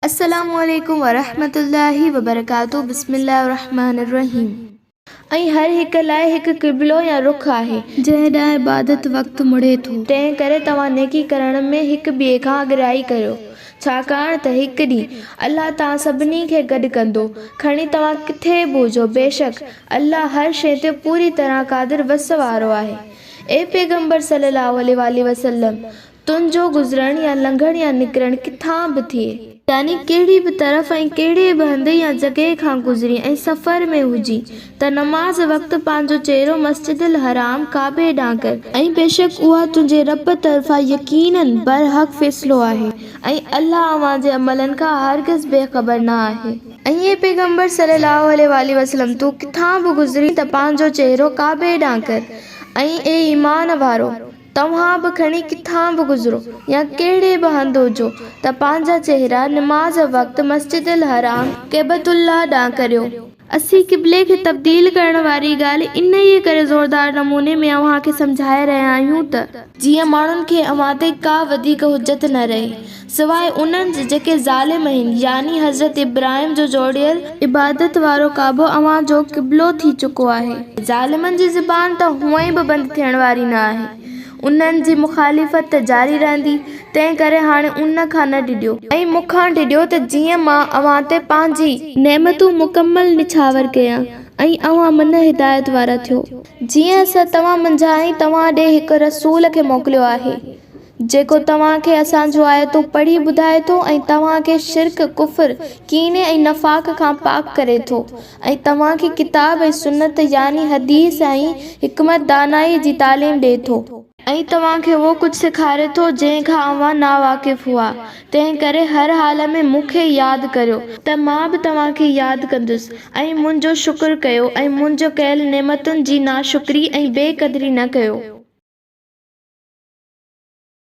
السلام عليڪم ورحمة الله وبرڪاته بسم الله الرحمٰن الرحيم ۽ هر هڪ لاء هڪ قبلو يا رخ آهي. جنهن ڏانهن عبادت وقت مڙي ٿو. تنهن ڪري توهان نيڪي ڪرڻ ۾ هڪ ٻئي کان اڳرائي ڪريو، ڇاڪاڻ ته هڪ ڏينهن الله توهان سڀني کي گڏ ڪندو، کڻي توهان ڪٿي به هجو، بيشڪ الله هر شيء تي پوري طرح قادر وس وارو آهي. اي پيغمبر صلّي اللّٰه عليه واٰله وسلّم! تنهنجو گذرڻ يا لنگهڻ يا نڪرڻ ڪٿان به ٿئي، يعني ڪهڙي به طرف ۽ ڪهڙي به هنڌ يا جڳهه کان گذرين ۽ سفر ۾ هجين ته نماز وقت پنهنجو چهرو مسجد الحرام، ڪعبي، ڏانهن ڪر. ۽ بيشڪ اها تنهنجي ربّ طرفان يقيناً برحق فيصلو آهي ۽ الله اوهان جي عملن کان هرگز بي خبر نه آهي. اي پيغمبر صلّي اللّٰه عليه واٰله وسلّم! تون ڪٿان به گذرين ته پنهنجو چهرو ڪعبي ڏانهن ڪر ۽ اي ايمان وارؤ! توهان به کڻي ڪٿان به گذرو يا ڪهڙي به هنڌ هجو ته پنهنجا چهرا نماز وقت مسجد الحرام، ڪعبة اللّٰه، ڏانهن ڪريو. اسين قبلي کي تبديل ڪرڻ واري ڳالهه انهيء ڪري زوردار نموني ۾ اوهان کي سمجهائي رهيا آهيون ته. جيئن ماڻهن کي اوهان تي ڪا وڌيڪ حجت نه رهي. سواء انهن جي جيڪي ظالم آهن، يعني حضرت ابراهيم جو جوڙيل عبادت وارو ڪعبو اوهان جو قبلو ٿي چڪو آهي. ظالمن جي زبان ته هونئن ئي به بند ٿيڻ واري نه آهي. انهن جي مخالفت ته جاري رهندي، تنهن ڪري هاڻي ان کان نه ڊڄو. ۽ مون کان ڊڄو ته جيئن مان اوهان تي پنهنجي. نعمتون مڪمل نڇاور ڪيان ۽ اوهان منهن هدايت وارا ٿيو. جيئن اسان توهان منجهان ۽ توهان ڏي هڪ رسول کي موڪليو آهي. جيڪو توهان کي اسان جون آيتون پڙهي ٻڌائي ٿو ۽ توهان کي شرڪ، ڪفر، ڪيني ۽ نفاق کان پاڪ ڪري ٿو ۽ توهان کي ڪتاب ۽ سنت يعني حديث ۽ حڪمت دانائي جي تعليم ڏئي ٿو. ۽ توهان کي اهو ڪجهه سيکاري ٿو جنهن کان اوهان ناواقف هئا. تنهن ڪري هر حال ۾ مون کي ياد ڪريو ته مان به توهان کي ياد ڪندس ۽ منهنجو شڪر ڪيو ۽ منهنجي ڪيل نعمتن جي ناشڪري ۽ بي قدري نه ڪيو.